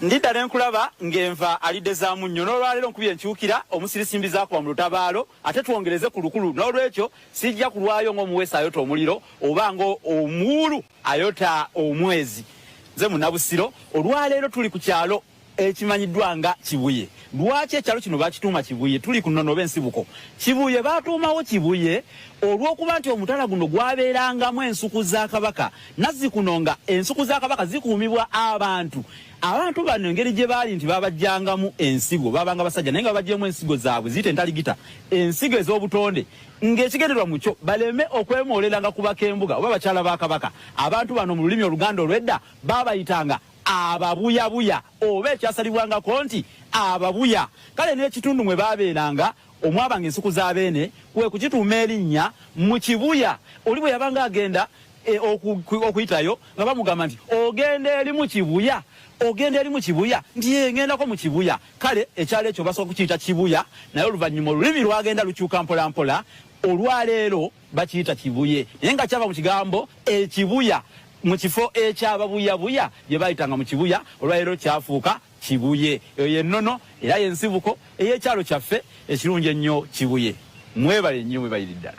Ndidda ne nkulaba ng'enva alidde za munnyo n'olwaleero nkubye enkyukira omusirisimbi zaakuba mu lutabaalo ate twongereze ku lukulu n'olwekyo sijja kulwayo ng'omuweesi ayota omuliro oba ng'omuwuulu ayota omwezi nze munabusiro olwaleero tuli ku kyalo ekimanyiddwa nga kibuye lwaki ekyalo kino bakituuma kibuye tuli ku nnono oba ensibuko kibuye baatuumawo kibuye olw'okuba nti omutala guno gwabeerangamu ensuku za kabaka Nazzikuno nga ensuku za Kabaka zikuumibwa abantu. Abantu bano engeri gye baali nti babajjangamu ensigo, babanga basajja naye nga babajjemu ensigo zaabwe ziyite entaligita, ensigo ez'obutonde ng'ekigenderwa mu kyo baleme okwemooleranga ku bakembuga oba bakyala ba Kabaka. Abantu bano mu lulimi Oluganda olw'edda baabayitanga ababuyabuya oba ekyasalibwangako nti ababuya. Kale n'ekitundu mwe baabeeranga omwabanga ensuku za Beene kwe kukituuma erinnya Mukibuya. Oli bwe yabanga agenda e, okuyitayo nga bamugamba nti ogenda eri mu kibuya ogenda eri mu kibuya nti yengendako mu kibuya kale ekyalo ekyo basobola kukiyita kibuya naye oluvannyuma olulimi lwagenda lukyuka mpolampola olwaleero bakiyita kibuye naye nga kyava mu kigambo ekibuya mu kifo ekyababuyabuya gye bayitanga mu kibuya olwaleero kyafuuka Kibuye eyo ye nnono era ye nsibuko ey'ekyalo kyaffe ekirungi ennyo Kibuye. Mwebale nnyo mwebalire ddala.